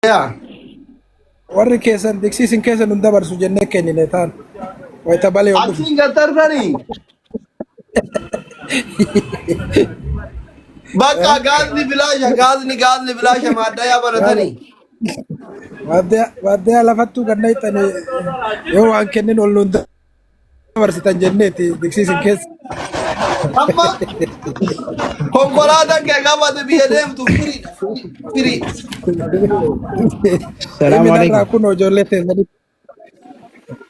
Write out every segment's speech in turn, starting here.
Yaa warri keessan diksii isin keessa nun dabarsu jennee kennine taan wayita balee ol dhufu. Achiin gad darbanii. Bakka gaazni bilaasha gaazni gaazni bilaasha maaddayaa baratanii. Waaddaa lafatti kan naqxanii yoo waan kennin ol nun dabarsitan jenneeti diksiisin keessa. Amma konkolaataan kee qabate biyya deemtu firiidha. Firii. Salaamu Minarraa alaikum. kun ijoollee teessanii.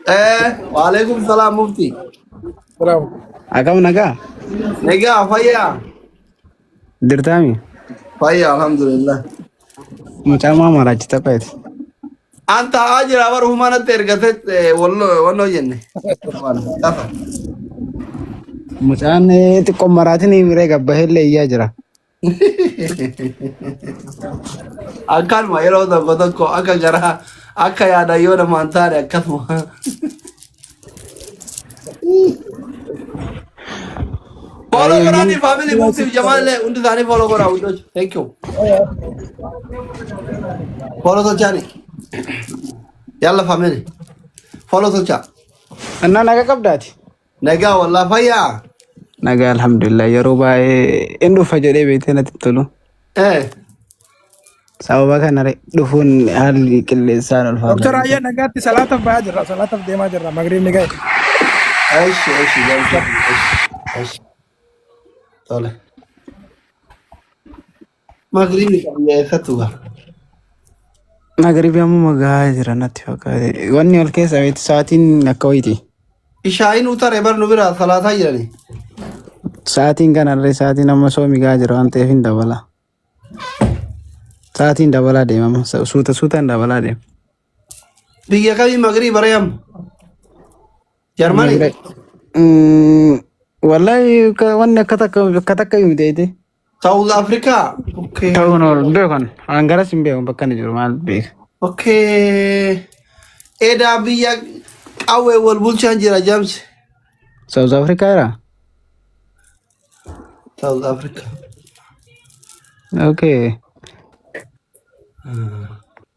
Eh, waalaikum salaam mufti. Salaamu. Akkam nagaa? Egaa fayyaa. Dirtaami. Fayya alhamdulillah. Mucaa maa maraachi tapheeti. An taa'aa jira bara humaa natti ergate walloo jenne. Lafa. Mucaan eh, xiqqoo maraatiin hin miree gabbahee illee iyyaa jira. Akkanuma yeroo tokko tokko akka garaa akka yaada yoo namaan taane akkasuma. Follow Ayuu, godhaanii family move siif jamaa illee hundi isaanii follow godhaa hundoj. Thank you. Follow tolchaani. Yalla family. Follow tolchaa. Annaa naga qabdaati. Nagaa wallaa fayyaa. Nagaa alhamdulillah yeroo baay'ee hin dhufa jedhee beektee natti hin tolu. Eh, Sababa kana re- dhufuun haalli qilleensaan Dr. ulfaataadha. Ayyan nagaatti salaataaf bahaa jirra. Salaataaf deemaa jirra. Magriibni ga'e. Eshi, eshi, galcha, eshi, eshi. Tole. Magribi qabna eessattu gaa. Magaribi ammuma gahaa jira natti fakkaate. Wanni ol keessa beektu sa'aatiin akka wayiiti. Ishaayi nu tare bar nu bira salata jirani. Sa'aatiin kanallee sa'aatiin amma soomi gaa jira waan ta'eef hin dabala. Sa'aatiin dabalaa deema amma sa- suuta suutaan dabalaa deema. Biyya kami magri barayam. Jarmani. Magre- Mm, Wallahi ka- wanni akka takka akka takka himte South Africa. Okay. Ta'uun oolu hin beekan. An garas hin beekan bakka inni jiru maal beeka. Okay. Edaa biyya qawwee wal bulchaan jira James. South Africa jira? South Africa. Okay.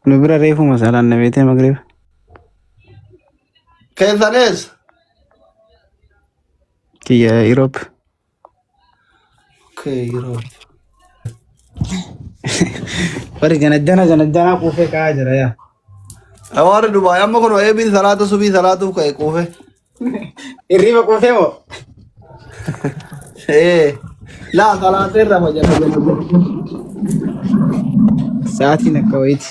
Nu bira reefu masaalaan na beetee magrib. Keessanis. Kiyya Europe. Bari gana gana gana gana kuufee ka'aa jira yaa. Hawaarri Dubaay amma kun eebiin salaata subii salaatuuf ka'e quufe. Hirriba kuufee moo? Ee laa salaatee irraa fayyadama. Sa'aatiin akka wayiiti.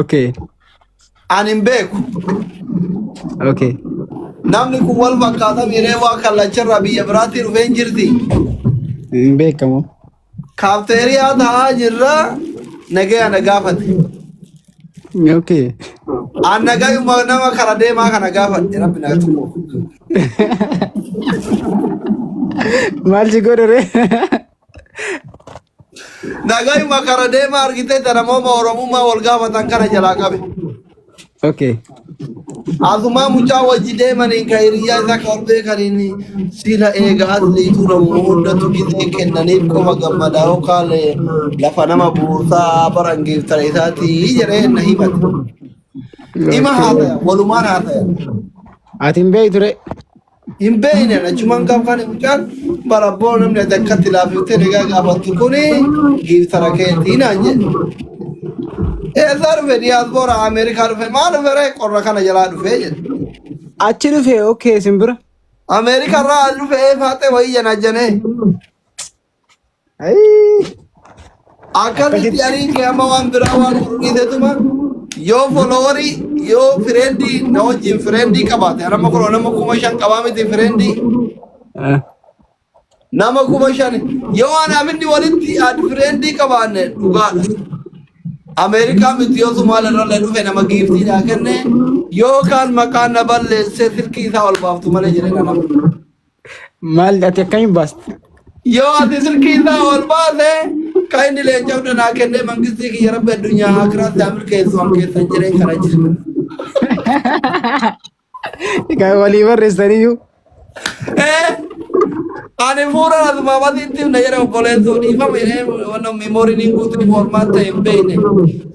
Okay. Ani hin beeku. Okay. Namni kun wal fakkaata miiree waa kallacharraa biyya biraatti dhufee hin jirti. Hin beekamu. Kaafteeriyaa taa'aa jirra nagaya na gaafate. Okay. An nagayuma nama kara deemaa kana gaafadhe rabbi na tuqu. Maal si godhore? Nagayuma kara deema argite tana mooma oromummaa wal gaafatan kana jalaa qabe. Okay. Asumaa mucaa wajji deemaniin ka hiriyyaa isaa ka ol beekaniin sila eega asli tuuramu hundatu gizee kennaniif qofa gammadaa yookaan lafa nama buusaa baran geeftara isaatii jedhee na himate. Ima Okay. haasaya, walumaan haasaya. Ati hin beektu ree? hin beekne achumaan gaaf kan mucaan bara abboo namni ati akkatti laafiftee nagaa gaafattu kuni giiftara keetii naan jedhe. Eessaa dhufe diyaasboora Ameerikaa dhufe maal dhufe ree qorra kana jalaa dhufe jedhe. Achi dhufe okkee simbira. Ameerikaa irraa as dhufe ee faaxee wayii jana janee. Akkamitti arii kee amma waan biraa waan fudhuudhiitetuma yoo foloowarii yoo fireendii na wajjin fireendii qabaate nama kun nama kuma shan qabaa miti fireendii nama kuma shan yoo anaaf inni walitti ad fireendii qabaanne dhugaadha. Ameerikaa miti yoo Somaaliyaa irrallee dhufe nama giiftii naa kenne yookaan maqaan na balleessee silkii isaa ol baaftu malee jedhee na nama. Maal ati akkamiin baasti? Yoo ati silkii isaa ol baase kan inni leenca'u danaa kennee mangistii kiyya rabbi addunyaa akiraatti haa milkeessu an keessan jiree kana jiru. Kan walii barreessaniyyuu. Eh, Ani fuula asuma wasitti na jedha obboleessuu dhiifama jedhee wanna memooriin hin guutu foormaat ta'e hin beekne.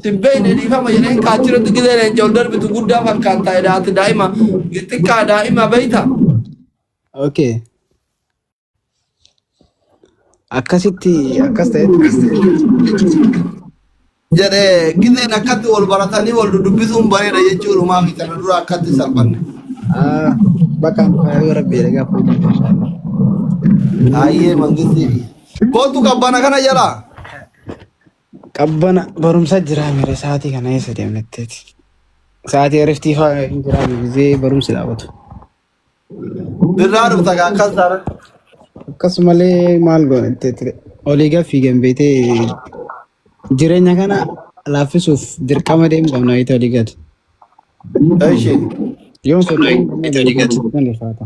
Sin beekne dhiifama jedhee kaachirratti gidee leenca ol darbitu guddaa fakkaata jedha ati daa'ima xiqqaa daa'ima beekta. Okay. Akkasitti akkas ta'e jedhee gizeen akkatti wal baratanii wal dubbisuun bareeda jechuudhumaa fi kana dura akkatti salphanne. Ah, bakka yoo rabbi jedhe gaafa hojii inshallah. Hayyee mangistii fi. Kootu qabbana kana jalaa. Qabbana barumsa jiraa mire sa'aatii kana eessa deemnetteeti? Sa'aatii eriftii fa'aa hin jiraa gizee barumsi dhaabatu. Birraa dhufta gaa akkas taana. Akkasumalee maal goone itti ture. Olii gad fiigan beetee jireenya kana laaffisuuf dirqama deemu qabna beete olii gad. Eshi. Yoon socho'u malee olii gad hin ulfaata.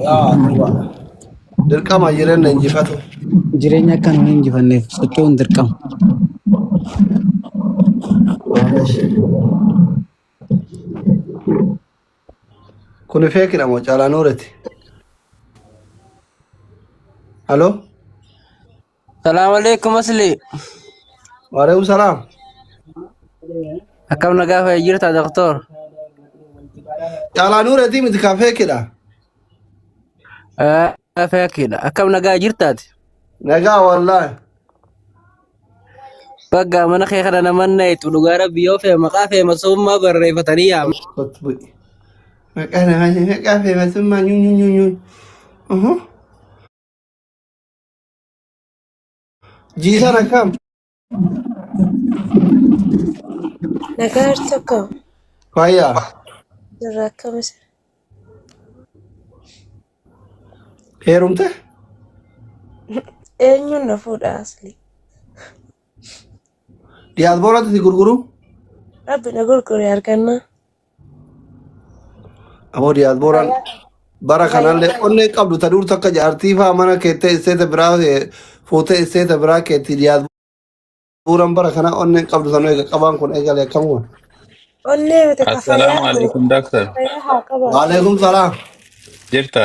Yaa duba dirqama jireenya injifatu. Jireenya akka nuyi injifanneef socho'uun dirqama. Kuni feekidha moo caalaa nuureti? Haloo? Salaam alaikum asli. Waalaikum salaam. Akkam nagaa fayyaa jirta doktor? Caalaa nuuratii miti kan feekedha. Feekedha. Akkam nagaa jirtaati? Nagaa wallaahi. Bagga mana kee kana naman nayitu dhugaa rabbi yoo fee maqaa fee masummaa barreeffatanii yaama. Maqaa namaa maqaa feemasummaa nyuun nyuun nyuun. Jiisaan akkam? Nagaa tokko Fayyaa. irraa akkamis Heerumte? eenyuun na fuudha asli Diyaasbooratti si gurguru? rabbi na gurgure argannaa Amoo diyaasbooraan bara kanallee onnee qabdu ta duurtu akka jaartii faa mana keettee isteeta biraa eh, fuutee isteeta biraa keetti diyaasbooraan bara kana onneen qabdu sanuu eega qabaan kun eegale akkam kun. Onnee miti ka fayyaa Assalaamu qabu. alaikum doctor. Fayyaa haa qabaatu. Waaleekum salaam. Jirta?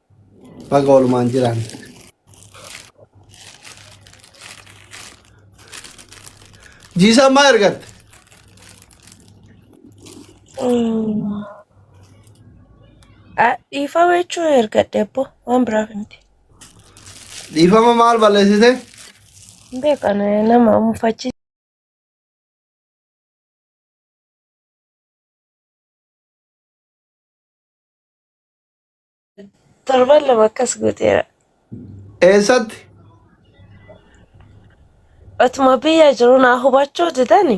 Baga walumaan jiraan. Jiisaan maa ergatte? Dhiifama jechuun ergadhe abbo waan biraaf miti. Dhiifama maal balleessite? Hin beekan nama mufachiisa. Torban lama akkas gooteera. Eessatti? Otuma biyya jiru naa hubachuu didani.